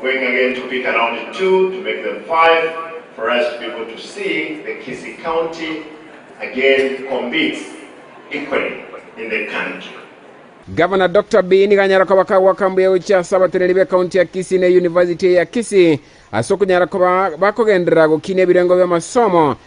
Going again to pick around two to make them five for us to be able to see the Kisii County again competes equally in the country. Gavana Doctor Bean ganyaroka bakagwa aka mbuya gochia ase abateneri be county ya Kisii ne University eye ya Kisii ase okonyara koba bakogenderera gokina ebirengo bi'amasomo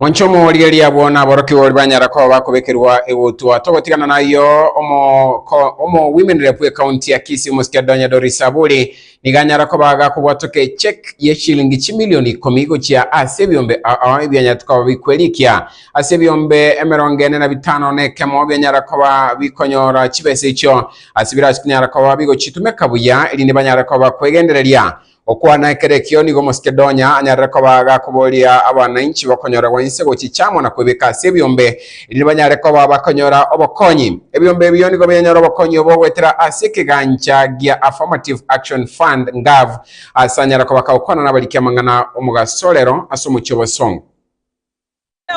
Monche omorigereria abwo naborokigwa oria banyara koba bakobekerwa egutwa. Togotigana nayio, omoko- omogwimenere bw'ekaunti ya Kisii omosikia Donya Doris Aburi nigo anyara koba agakobwatoka echeque ye shilingi chimilioni ikomi gochia ase ebiombe a- a ebianyarete koba bikwerikia ase ebiombe emerongo ene na bitano na ekemo bianyara koba bikonyora chibesa echio ase birach- nyara koba bigochitumeka buya erinde banyare koba bakwegendereria Gokwana ekero ekio nigo Omosikedonia anyarire koba gakoboria abanainchi bakonyoragwa inse gochia chiamo na kwebeka ase ebiombe, erinde banyare koba bakonyora obokonyi. Ebiombe ebio nigo biranyora obokonyi obo goetera ase ekegancha gia Affirmative Action Fund Ngav ase anyare kobaka gokwana nabariki amang'ana 'omogasorero ase omochie o Bosongo.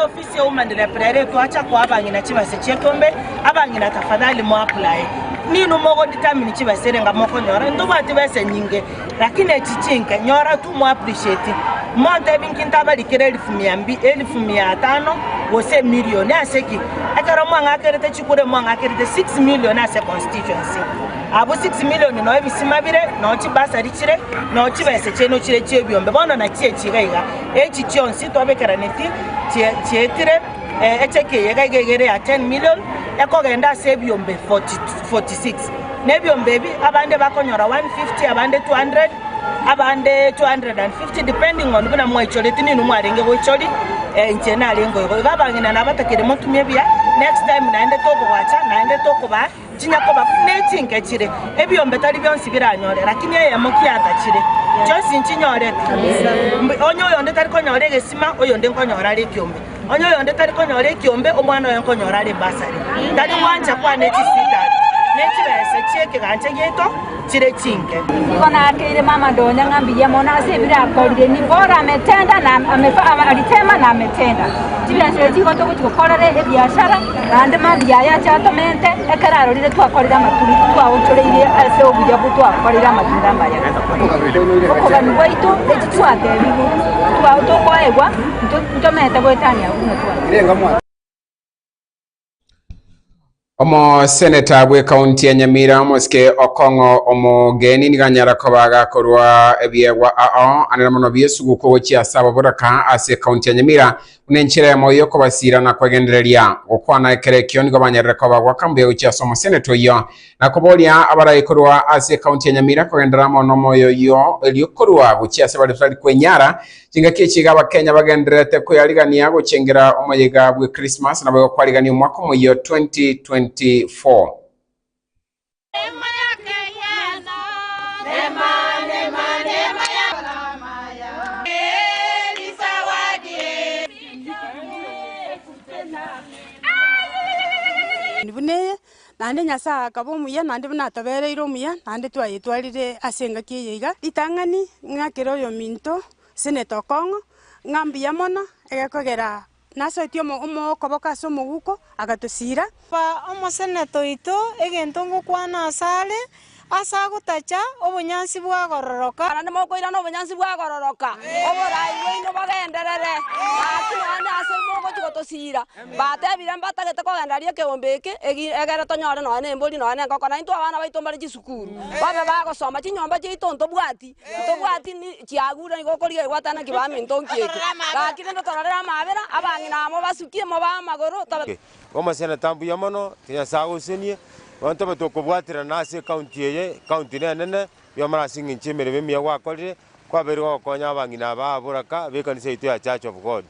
Ofisi y'obomanderia Pilayo ekoacha koa abang'ina chibase chi'ekombe, abang'ina tafadhali moapulaye. Ninwe mogodetermine chibase erenga mokonyora, ntobwati besa nyinge, lakini echi chinke, nyora tu mo appreciate. Montebi inki ntabarikire elifu mia mbi, elifu mia atano, gose emilioni? Ase ki? Ekero mwang'akerete chikura mwang'akerete 6 million ase constituency. Abwo 6 million noo ebisima bire, noo chibasari chire, noo chibesa chiaino chire chi'ebiombe, bono nachio echi iga iga. Echi chionsi twabekeranetie chie- chietire eh, ech'ekeyega iga egere ya 10 million, ekogenda ase ebiombe 40 46. Na ebiombe ebi abande bakonyora 150, abande 200, abande 250 depending on buna mwaichoreti ninwe mwarenge goichori, eh, inche narenge igo. Iga abang'ina nabatakire motumie buya, next time naende tokogwacha naende tokobaa. Chinya koba buna echinke chire, ebiombe tari bionsi biranyore, lakini eyemo kiatachire, chionsi nchinyore. Mbu onye oyonde tari konyora egesima, oyonde nkonyora are ekiombe. Onye oyonde tari konyora ekiombe, omwana oye nkonyora are ebasari. Tari gwancha kwane chisitani, ne chibese chi'ekegancha giaito, chire chinke. Nigo naakeire mama ndonye ng'a mbuya mono ase ebire akorire, nigo ore ametenda na amefa aba aritema na ametenda. Chibiasare chigo togochi gokorera ebiasara, naende mambia aya ache atomente, ekero arorire twakorire amatunda titwaonchoreirie ase obuya bwo twakorire amatunda amaya. Okogania gwaito echi twatebigwe twa tokoegwa, nto- ntomete goetania buna twatebigwe. Omoseneta bwe kaunti ya Nyamira omosike Okong'o omogeni nigo anyara koba agakorwa ebiegwa ao anene mono biesuguku gochia ase ababoraka ase kaunti ya Nyamira buna enchera yamo yokobasira na kwegendereria. Gokwana ekero ekio nigo banyarire koba gwaka mbuya gochia ase omoseneta oyio Na koboria abarae korwa ase ekaunti ya Nyamira kogendera amo nomoyo oyio, erio korwa gochia ase baria totari kwenyara, chingaki echi iga Abakenya bagendererete koyarigania gochengera omoyega bwe Christmas naboigo kwarigania omwaka omoyio 2024. Buna eye, Naende Nyasae akaba omuya, naende buna atobereire omuya, naende twayetwarire ase engaki eye iga, ritang'ani, ng'a kera oyominto osenete okong'o, ng'a mbuya mono, egekogera nasoetie okoboko ase omoguko, agatosiira. Omosenete oito, egento ngokwana asare, Ase agotacha obonyansi bwagororoka. Barabwo mokoirana obonyansi bwagororoka, oboraai bwaino bogenderere. Gaki nonya ase mogochia gotosiira, batebire mbatagete kogenda aria ekeombe eke, egi- egere tonyore nonya nembori, nonya nenkoko, naintwe abana baito mbare chisukuru, babe bagosoma. Chinyomba chiaito ntobwati, ntobwati ni chiagure, igo okorigia egwata naki baminto nki eke. Gaki rende tororere amabera, abang'ina amo basukie, mobae amagoro, tobe. Omoseneta mbuya mono, Nyasae agosenie. Abanto aba tokobwaterana ase ecounty eye, ecounty nenene, bwamano ase eng'encho y'emeremo emiya gwakorire, kwabeire gokonya abang'ina aba aboraka b'ekanisa yaito ya Church of God.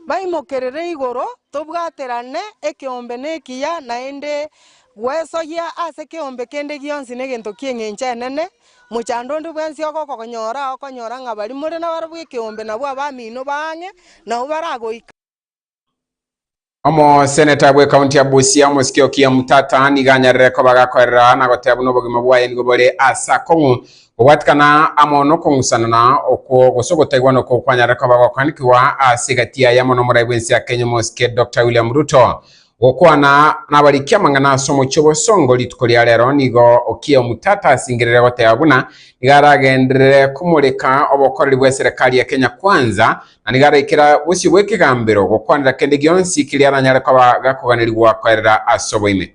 Baimokerere igoro, tobwaterane ekeombe nekiya, naende gwesoyia ase keombe kende gionsi negento ki'eng'encho enene. Mochando onde bwensi ogokonyora, okonyora ng'a baria more nabarabwo ekeombe nabwo abamino ba ang'e nao baragoika. Omoseneta bw'ekaunti ya Busia, omosike Okiya Mtata, nigo anyarire koba agakorera na goteba buna obogima bwaye nigo bore ase akong'u gobwatikana amo nokong'usanana okwo gose ogotaigwana okwo kwanyarire koba gokoanikigwa ase egati yaye amo nomorai bw'ense ya Kenya omosike Doctor William Ruto. Gokwana nabarikia amang'ana ase omochie obosongo rituko ria rero nigo okie omutata asingerire goteba buna nigo aragenderere komoreka obokoreri bw'eserekari ya Kenya Kwanza na nigo araikera bosio bw'ekegambero gokwanera kende gionsi keria aranyare koba gakoganirigwa koerera ase oboime.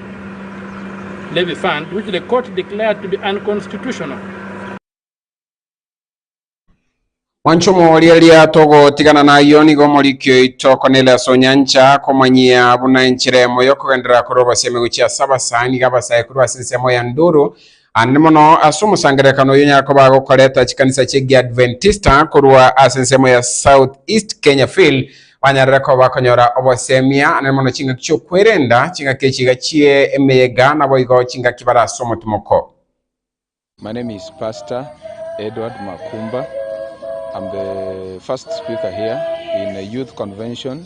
Levy Fund which the court declared to be unconstitutional. Mwanchomo oria eria togotigana nayo nigo omoriki oito Cornelius Onyancha akomanyia buna enchera emo yokogenderera korobosia emeguchi ase abasaani iga abasae korwa ase ensemo ya Nduru Ande mono ase omosangererekano oyio Nyakoba agokoreta chikanisa chi'Egiadventista korwa ase ensemo ya South East Kenya Phil banyarere koba bakonyora obosemi aa, naende mono chingaki chi'okwerenda, chingaki echiga chie emeyega, naboigo chingaki bare ase omotimoko. My name is Pastor Edward Makumba. I'm the first speaker here in a youth convention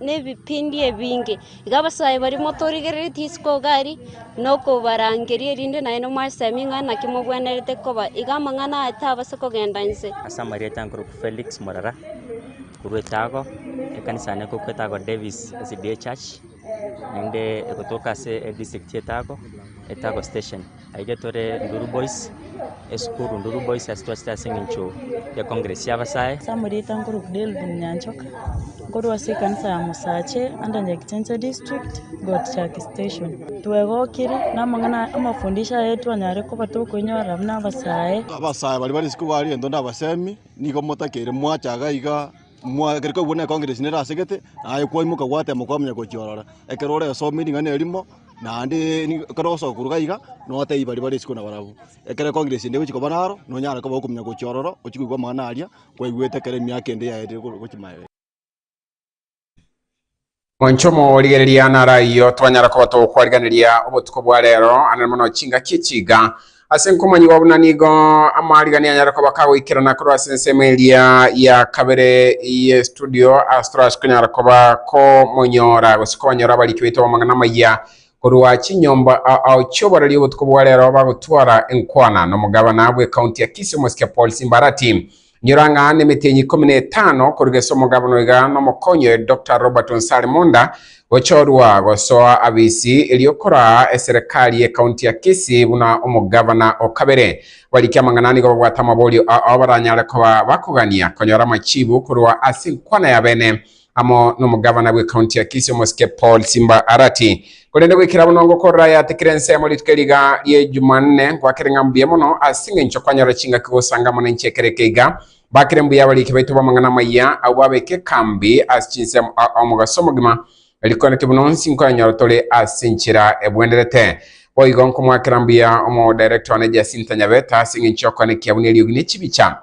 nebipindi ebinge. Iga abasae baria motorigereretie isiko iga aria, na okobarangeria, erinde naye nomwasemie ng'a naki mogwenerete koba. Iga amang'ana aya tabase kogenda inse. Ase amarieta nkoroku Felix Morara, korwa etago ekanisa yane ekobekwa etago Davis SDA Church, naende egotoka ase edistrict y'Etago, Etago Station. Aike tore Nduru Boys, esukuru Nduru Boys ase twachete ase eng'encho ya Congress ya Abasae. Ase amarieta nkorwa Delvin Nyanchoka, nkorwa ase ekanisa ya Mosache under Nyagicheche District, Gotichaki Station. Twegokire namang'ana aya amafundisho aya twanyare koba tokoinyora buna abasae. Abasae baria ba risiku baria gento ndabasemi, nigo motakeire mwacha iga iga, mwa gera koigwa ne Congress nere asegete, naye kwaimoka gwatema kwamenya gochia ororo. Ekero oresomire ring'ana erimo. Naende nigo ekero ogosoka korwa gaiga, notebia baria bare isiko na barabwo, ekero congregation ende egochia koba naro, nonyare koba okominyoka gochia ororo, ochie koigwa amang'ana aria kwaigwete ekero emiaka ende yaetire korwa gochia maega. Moncho omorigereria naro ayio twanyara koba togokwariraneria obotuko bwa rero, ang'e mono chingaki echiga Ase nkomonyigwa buna nigo amariga nianyare koba kagoikerana korwa ase ensemo eria ya kabere ye studio Astrax konyara koba komonyora gose kobanyora abariki baito b'amang'ana amaya korwa chinyomba ao chioboreri obotuko bwa rero bagotwara enkwana nomogabana bw'ekaunti ya Kisii Omosike Paul Simbarati Inyora ng'a nemetienyi ikomi na etano korwa gese omogabo noiga nomokonyi oye Doctor Robert Onsari Munda gochorwa gosoa abisi erio koraa eserekari y'ekaunti ya Kisii buna omogavana o kabere. Abarikia amang'ana nigo babwate amaborio ao baranyare koba bakogania konyora amachiibu korwa ase enkwana y'abene amo nomogavana bw'ekaunti ya Kisii omosike Paul Simba Arati. Korende goikera bono ngokorora aya atikire ensemo rituko eri iga rie Jumanne, ngoakere ng'a mbuya mono ase engencho kwanyora chingaki gosanga amo nenche ekero eke iga. Bakire mbuya abariiki baito b'amang'ana amayia, abwo babeka ekambi ase chinsemo aa omogaso omogima, riko naki buna onsi nkoyanyora tore ase enchera ebwenerete. Boigo nkomoakera mbuya Omodirector one Jacinta Nyabeta ase engencho y'okwana ekiabuni eriogi ne chibicha.